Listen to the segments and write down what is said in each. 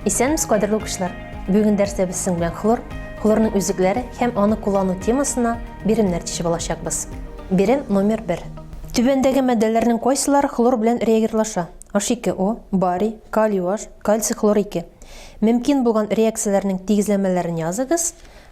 Исәнмез, кадерле укучылар! Бүген дәрстә без сезнең белән хлор, хлорның үзлекләре һәм аны куллану темасына биремнәр тишеп алачакбыз. Бирем номер 1. Түбәндәге матдәләрнең кайсылары хлор белән реагирлаша? H2O, барий, калий OH, кальций хлор 2. Мөмкин булган реакцияләрнең тигезләмәләрен языгыз.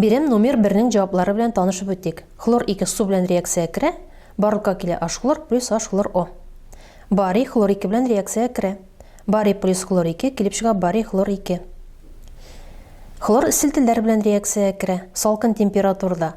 Бирем номер бернең җаваплары белән танышып үтик. Хлор 2 су белән реакциягә керә, барлыкка килә H-хлор плюс H-хлор O. Барий хлор 2 белән реакциягә керә. Барий плюс хлор 2 килеп чыга барий хлор 2. Хлор селтелләр белән реакциягә керә, салкын температурада.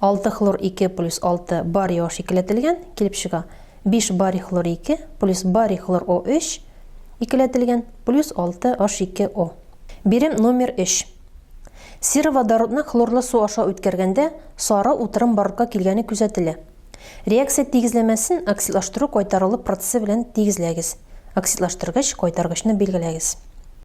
Алты хлор ике плюс алты барий О икеләтелгән, килеп чыга, биш барий хлор ике плюс барий хлор О өч икеләтелгән, плюс алты H ике О. Бирем номер өч. Сероводородны хлорлы су аша үткәргәндә сары утырым барлыкка килгәне күзәтелә. Реакция тигезләмәсен оксидлаштыру кайтарылу процессы белән тигезләгез. Оксидлаштыргыч кайтаргычны билгеләгез.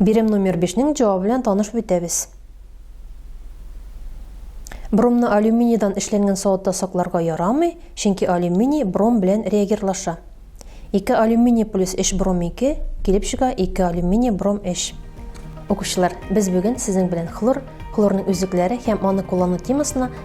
Бирем номер бишнең җавабы белән танышып үтәбез. Бромны алюминийдан эшләнгән савытта сакларга ярамый, чөнки алюминий бром белән реагирлаша. Ике алюминий плюс өч бром ике, килеп чыга ике алюминий бром өч. Укучылар, без бүген сезнең белән хлор, хлорның үзлекләре һәм аны куллану темасына